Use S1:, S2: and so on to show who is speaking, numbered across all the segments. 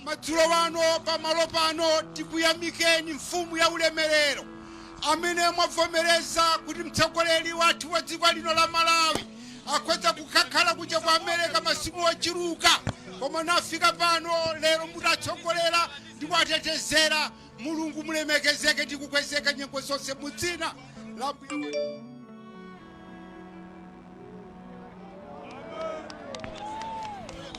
S1: Madzulo ano pamalo pano tikuyamikeni Mfumu ya Ulemerero amene mwavomereza kuti mtsogoleri wathu wa dziko lino la Malawi akhoza kukakhala kuja kwa Amerika masiku ochuluka koma nafika pano lero mutatsogolera ndi kuwatetezera Mulungu mulemekezeke ndi kukwezeka nyengo zonse mu dzina la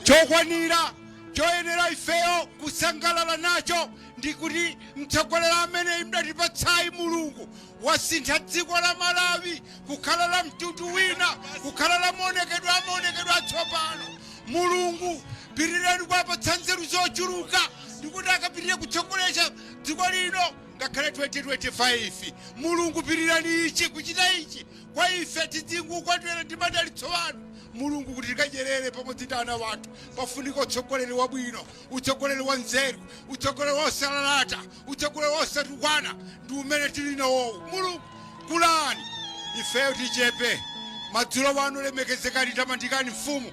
S1: chokwanira choyenera ifeyo kusangalala nacho ndi kuti mtsogoleri amene mudatipatsayu mulungu wasintha dziko la malawi kukhala la mtundu wina kukhala la maonekedwe amaonekedwe atsopano mulungu Pirirani kuwapatsa nzeru zochuluka ndikuti akapitire kutsogolera dziko lino ngakhale 2025. Mulungu pirirani ichi kuchita ichi kwa ife tidzingukondwera ndi madalitso anu Mulungu kuti tikadyerere pamodzi ndi ana athu. Pafunika utsogoleri wabwino, utsogoleri wa nzeru, utsogoleri osalalata, utsogoleri osatukwana ndi umene tili nawowu. Mulungu kulani ifeyo tichepe. Madzulo ano lemekezekani tamandikani Mfumu.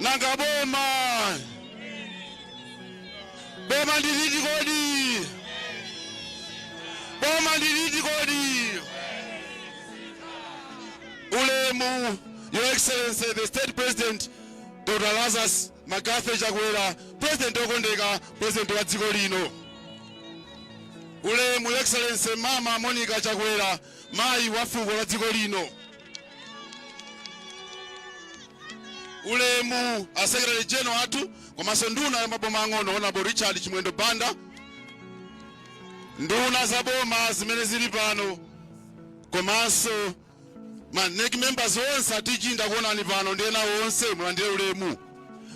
S2: nanga boma boma ndi liti kodi boma ndi liti kodi ulemu your excellency the state president dr lazarus mccarthy chakwera president okondeka president wa dziko lino ulemu your excellency mama monica chakwera mayi wa fuko la dziko lino ulemu a secretary general athu komanso nduna ya maboma ang'ono honorable richard chimwendo banda nduna za boma zimene zili pano komanso ma NEC members onse a TG ndakuonani pano ndi ena onse mulandire ulemu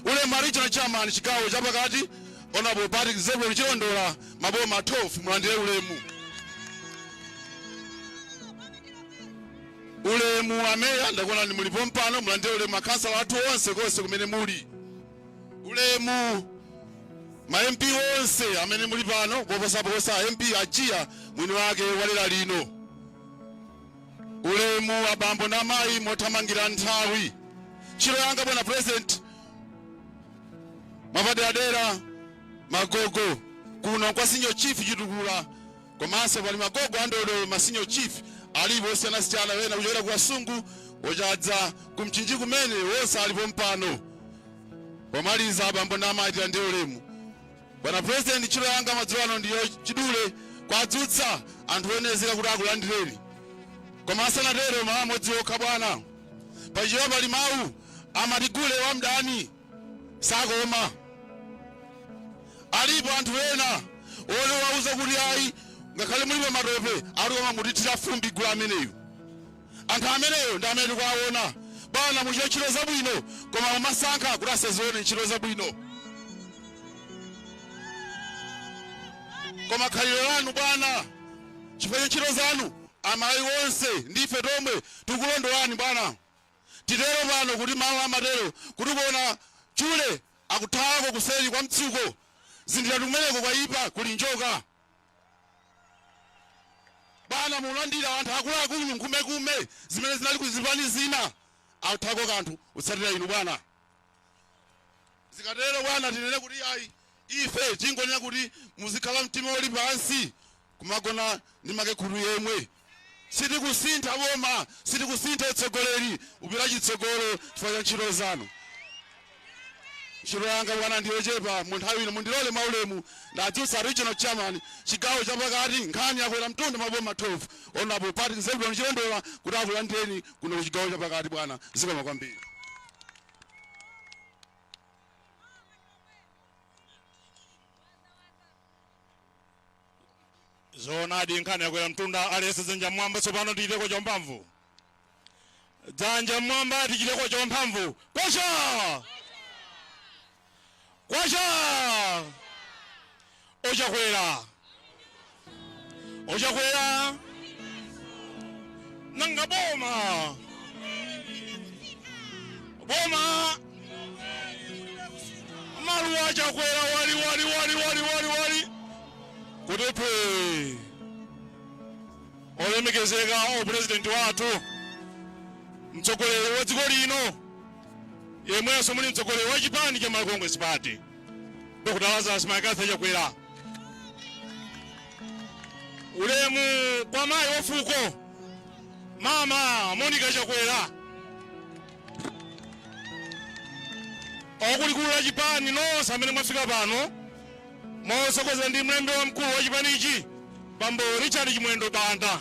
S2: ulemu a regional chairman chigawo chapakati honorable patrick zebron chilondola maboma 12 mulandire ulemu Ulemu a Meya ndakuonani muli pompano, mulandire ulemu akhansala athu onse konse kumene muli. Ulemu ma MP onse amene muli pano koposaposa MP a Jiya mwini wake wa dera lino. Ulemu abambo na mayi mothamangira nthawi. Ntchito yanga bwana president, mwapaderadera magogo kuno kwa senior chief chitukula komanso pali magogo andodo ma senior chief alipo osiyanasiyana wena kuchokera ku kasungu ochadza ku mchinji kumene wonse ali pompano pomaliza abambo na mayi tilandire ulemu bwana president ntchito yanga madzulo ano ndi yachidule kuwadzutsa anthu olemekezeka kuti akulandireni koma asanatero mawu amodzi okha bwana pachichewa pali mawu amati gule wa mdani sakoma alipo anthu ena olo kuwauza kuti ayi ngakhale muli pamatope ali koma mutithira fumbi gule ameneyu anthu ameneyo ndi amene tikuwaona bwana muchita ntchito zabwino koma amasankha kuti asazione ntchito zabwino koma khalidwe lanu bwana chifukwa cha ntchito zanu amayi onse ndife tomwe tikulondolani bwana Titero pano kuti mawu amatero kuti kuona chule akuthawako kuseri kwa mtsuko. Zindikira kuti kumeneko kwaipa kuli njoka. Bwana mulandira anthu akuluakulu nkhumekume zimene zinali ku zipani zina. Akuthawako kanthu kutsatira inu bwana. zikatero bwana tinene kuti ayi ife tingonena kuti muzikhala mtima uli pansi kumagona ndi makekhulu yemwe sitikusintha boma sitikusintha utsogoleri upita chitsogolo chifukwa cha ntchito zanu ntchito yanga bwana ndiyochepa mu nthawi ino mundilole mwaulemu ndiwadzutse regional chairman chigawo chapakati nkhani yakwera mtunda maboma 12 honourable patrick zebron chilondola kuti akulandireni kuno ku chigawo chapakati bwana zikomo kwambiri
S3: zoonadi nkhani yakwera mtunda aliyese dzanja mmwamba tsopano tichiteko champhamvu dzanja mmwamba tichiteko champhamvu kwacha kwacha ochakwera ochakwera nanga boma boma maluwa a chakwera wali wali wali wali wali wali kutepe olemekezeka o pulezidenti wathu mtsogoleri wa dziko lino yemwenso muli mtsogoleri wa chipani cha Malawi Congress Party Dr. Lazarus McCarthy Chakwera, ulemu kwa mayi wa fuko mama Monica Chakwera, a kulikulu la chipani nonse amene mwafika pano motsogozedwa ndi mlembi wamkulu wa chipanichi bambo Richard Chimwendo Banda.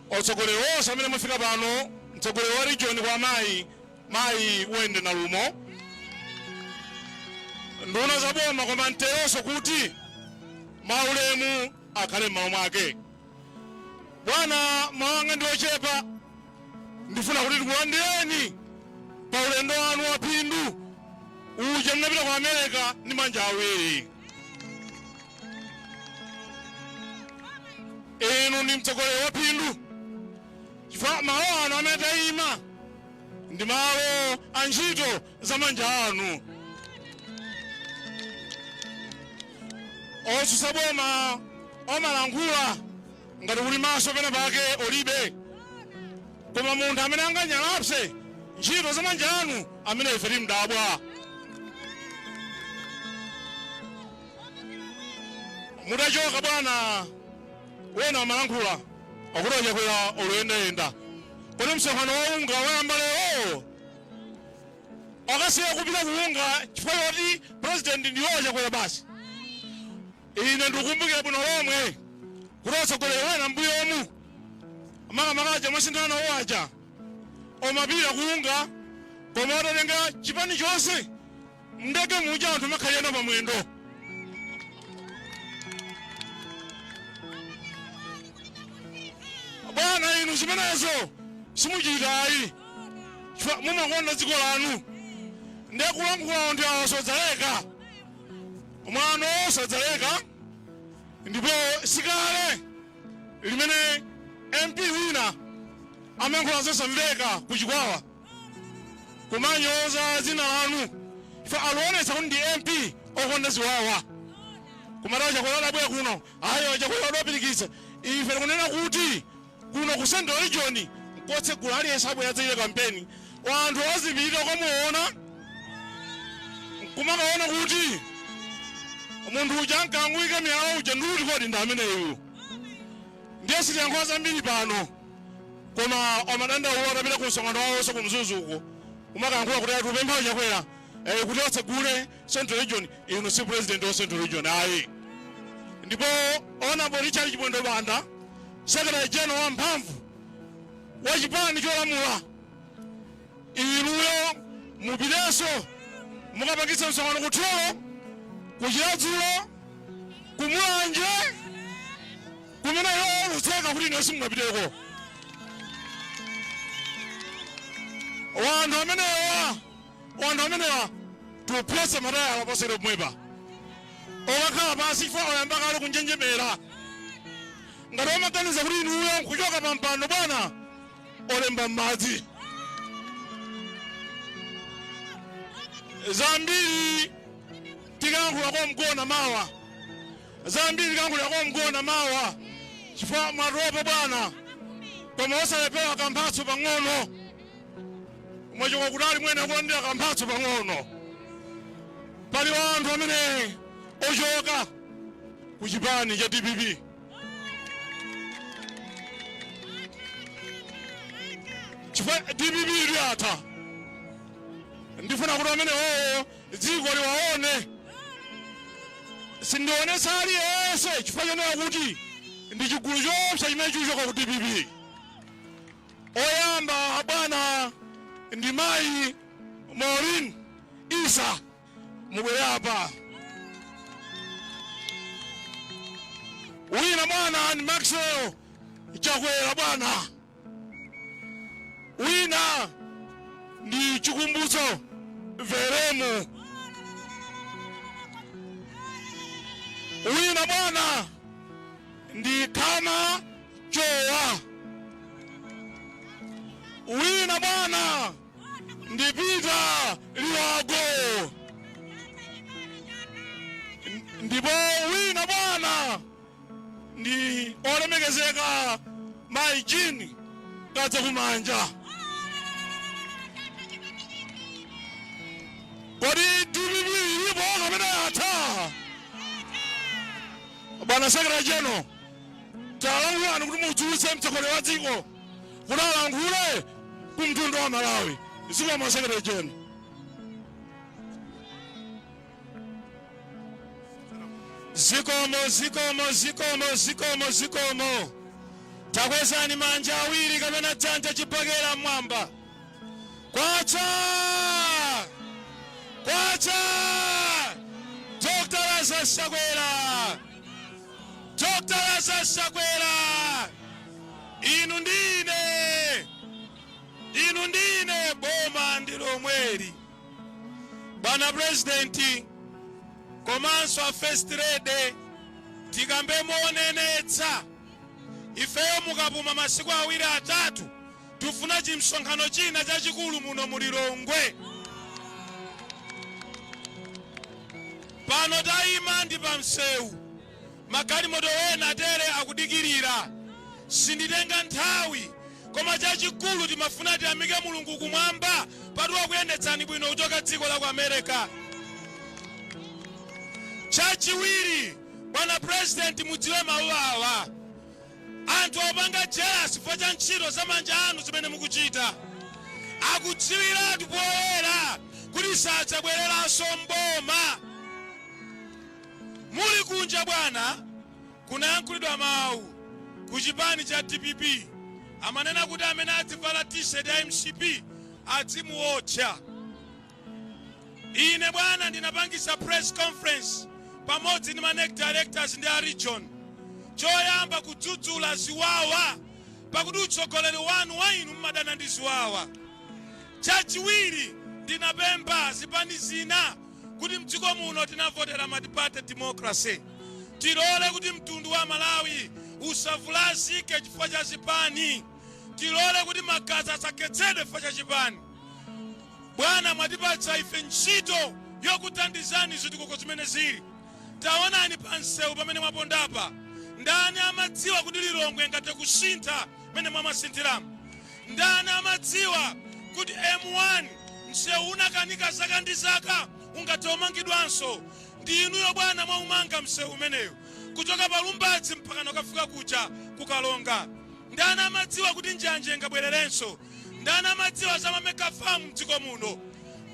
S3: otsogoleri onse amene mwafika pano mtsogoleri wa region kwa amayi mayi wende na lumo nduna za boma koma nteronso kuti maulemu akhale m'malo mwake bwana mau anga ndi ochepa ndifuna kuti tikulandireni pa ulendo wanu wa phindu uja mnapita ku america ndi manja awiri inu ndi mtsogoleri waphindu chifukwa malo ano amene tayima ndi malo a ntchito za manja anu otsutsa boma omalankhula ngati kuli maso pena pake olibe koma munthu amene anganyalapse ntchito za manja anu ameneyo ife timdabwa mutachoka bwana ena amalankhula akuti achakwera akuyendayenda kodi msonkhano wa unga wayamba lero akasiya kupita ku unga chifukwa choti president ndi achakwera basi ine ndikumbukira bwino lomwe kuti atsogoleri ena mbuyomu makamaka aja mwasinthana nawo aja amapita ku unga koma atatenga chipani chonse mndege muja anthu kumakhalirana pa mwendo bwana inu zimenezo simuchitayi chifukwa mumakonda dziko lanu ndiye kulankhulawo anthu awa sadzaleka mwano sadzaleka ndipo sikale limene mp wina amayankhula zosamveka ku chikwawa kumanyoza dzina lanu ife akuonetsa kuti ndi mp okonda ziwawa kumati a chakwera adabwera kuno ati a chakwera adapirikitsa ife tikunena kuti kuno ku central region nkotsegula aliyense abwera adzachita kampeni kwa anthu ozipita ukamuona kumakaona kuti munthu uja ankangoyika miyala uja nkuti kodi ndi ameneyu ndiye sitiyankhula zambiri pano koma amadandaula atapita ku msonkhano wawonso ku mzuzu uko kumakayankhula kuti ati akupempha achakwera eh, kuti atsegule central region inu si president wa central region ayi ndipo honorable richard chimwendo banda secretary general wamphamvu wa chipani cholamula inu inuyo mupitenso mukapangitse msonkhano ku thyolo ku chiradzulu ku mulanje kumene iwo onditseka kuti ine simungapiteko wanthu amenewa wanthu amenewa tiphwese matayala poteropo pomwepa okakhala pansi chifukwa oyamba kale kunjenjemera ngati amaganiza kuti inuyo nkuchoka pa mpando bwana olemba m'madzi zambiri tikayankhula kwa Mgona mawa zambiri tikankhulira kwa Mgona mawa chifukwa mwatopa bwana koma osalepherako kamphatso pang'ono mwachoka kutali muyenera kulandira kamphatso pang'ono pali anthu amene ochoka ku chipani cha dpp chifukwa dpp ili yatha ndifuna kuti amene owo dziko liwaone sindionetsa aliyense chifukwa chonena kuti ndi chigulu choopsa chimene chikuchoka ku dpp oyamba bwana ndi mayi Maureen isa mubwere apa wina bwana ndi maxwell chakwera bwana wina ndi chikumbutso veremu wina bwana ndi khama chowa wina bwana ndi Peter liwago ndipo wina bwana ndi olemekezeka mayi jean Kadzakumanja kodi dpp ilipo kapena yatha bwana secretary general talankhulani kuti mudzutse mtsogoleri wa dziko kuti alankhule ku mtundu wa malawi zikomo secretary general zikomo zikomo zikomo zikomo zikomo takwezani manja awiri kapena dzanja chibakera mmwamba kwacha kwacha dr lazarus chakwera dr lazarus chakwera inu ndine inu ndine boma ndi lomweli Bwana President komanso a First Lady tikambe monenetsa ifeyo mukapuma masiku awiri atatu tufuna chimsonkhano china chachikulu muno mu Lilongwe. Pano tayima ndi pamsewu Magalimoto ena atere akudikirira. Sinditenga nthawi, koma chachikulu timafuna tiyamike Mulungu kumwamba pakuti wakuyendetsani bwino kuchoka dziko la ku America. Chachiwiri, bwana president mudziwe mawu awa. Anthu akupanga jealous chifukwa cha ntchito za manja anu zimene mukuchita. Akudziwiratu poyera kuti sadzabwereranso m'boma. Muli kunja bwana kunayankhulidwa mawu ku chipani cha dpp amanena kuti amene adzivala t-shirt ya mcp adzimuotcha. Ine bwana ndinapangisa press conference pamodzi ndi ma nec directors ndi a region choyamba kudzudzula ziwawa pakuti utsogoleri wanu wa inu mumadana ndi ziwawa. Chachiwiri ndinapempha zipani zina kuti mdziko muno tinavotera multiparty democracy. Tilole kuti mtundu wa Malawi usavulazike chifukwa cha chipani. Tilole kuti magazi asakhetsedwe chifukwa cha chipani. Bwana, mwatipatsa ife ntchito yokuthandizani zitukuko zimene zili. Taonani pa msewu pamene mwapondapa, ndani amadziwa kuti Lilongwe ingathe kusintha mmene mwamasinthiramo? Ndani amadziwa kuti M1 msewu unakanika zaka ndi zaka ungathe umangidwanso? Ndi inuyo bwana mwaumanga msewu umeneyo kuchoka pa Lumbadzi mpakana kukafika kuja ku Karonga. Ndani amadziwa kuti njanje ingabwererenso? Ndani amadziwa za ma mega farm mdziko muno?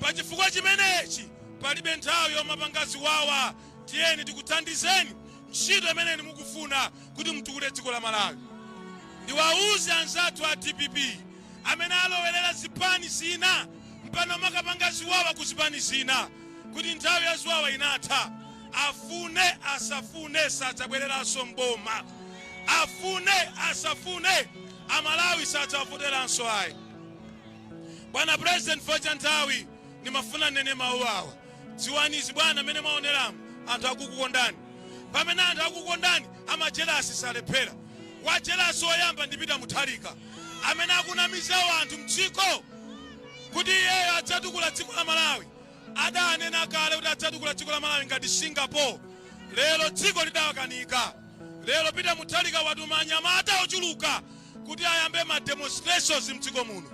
S3: Pa chifukwa chimenechi palibe nthawi yomapanga ziwawa tiyeni tikuthandizeni ntchito imene mukufuna kuti mtukule dziko la Malawi. Ndiwauze anzathu a dpp amene alowerera zipani zina mpano kumakapanga ziwawa ku zipani zina kuti nthawi ya ziwawa inatha. Afune asafune sadzabwereranso mboma, afune asafune Amalawi sadzawavoteranso ayi. Bwana President, chifukwa cha nthawi ndimafuna ninene mawu awa. Dziwani izi bwana mene mwaoneramu anthu akukukondani pamene anthu akukondani amajelasi salephera wajelasi woyamba ndi Peter Mutharika amene akunamiza anthu mdziko kuti iyeyo adzatukula dziko la Malawi adanena kale kuti adzatukula dziko la Malawi ngati Singapore lero dziko lidawakanika lero Peter Mutharika watuma anyamata ochuluka kuti ayambe ma demonstrations mdziko muno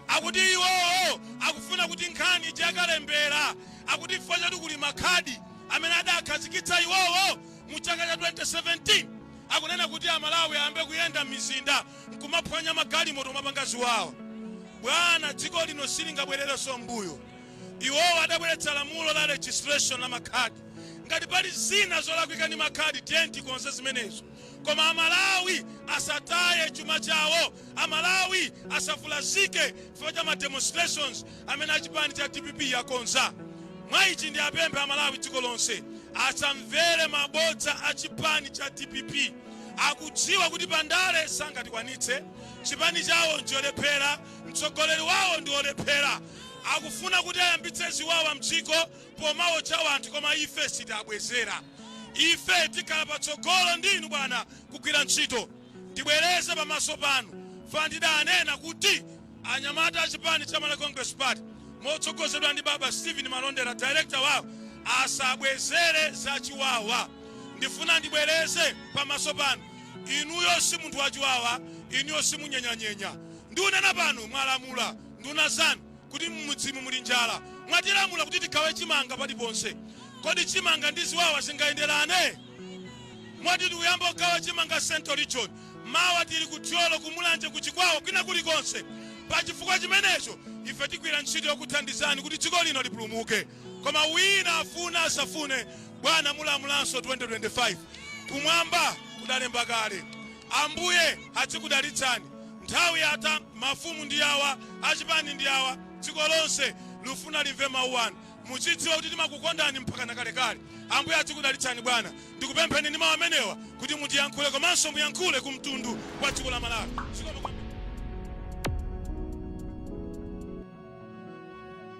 S3: akuti iwowo akufuna kuti nkhani ija yakalembera akuti chifukwa choti kuli makhadi amene adakhazikitsa iwowo mu chaka cha 2017 akunena kuti amalawi ayambe kuyenda m'mizinda nkumaphwanya magalimoto kumapanga ziwawa bwana dziko lino silingabwererenso mbuyo iwowo adabweretsa lamulo la registration la makhadi ngati pali zina zolakwika ndi makhadi tiyeni tikonze zimenezo Koma amalawi asataye chuma chawo, amalawi asavulazike chifukwa cha ma demonstrations amene achipani cha dpp akonza. Mwa ichi ndiapemphe amalawi dziko lonse asamvere mabodza a chipani cha dpp. Akudziwa kuti pa ndale sangatikwanitse, chipani chawo ncholephera, mtsogoleri wawo ndi olephera, akufuna kuti ayambitse ziwawa mdziko. pomaotcha wanthu koma ife sitiabwezera ife tikhala patsogolo ndi inu bwana kugwira ntchito ndibwereze pamaso panu pandidanena kuti anyamata a chipani cha Malawi Congress Party motsogozedwa ndi baba Stephen Malondera director wawo asabwezere zachiwawa ndifuna ndibwereze pamaso panu inuyo si munthu wachiwawa inuyo simunyenyanyenya ndiunena pano mwalamula nduna zanu kuti m'mudzimu muli njala. Mwatilamula kuti tigawe chimanga paliponse. Kodi chimanga ndi ziwawa zingayenderane? Moti tikuyamba kugawa chimanga Central Region, mawa tili ku Thyolo, ku Mulanje, ku Chikwawa, kwina kulikonse. Pa chifukwa chimenecho, ife tigwira ntchito yokuthandizani kuti dziko lino lipulumuke. Koma wina afune asafune, bwana mulamulanso 2025. Kumwamba kudalemba kale. Ambuye adzikudalitsani nthawi yatha mafumu ndi awa achipani ndi awa dziko lonse lufuna limve mau anu mudzidziwa kuti timakukondani mpakana kalekale ambuye adzikudalitsani bwana ndikupempheni ndi mau amenewa kuti mutiyankhule komanso muyankhule ku mtundu wa dziko la malawi zikomo kwambiri.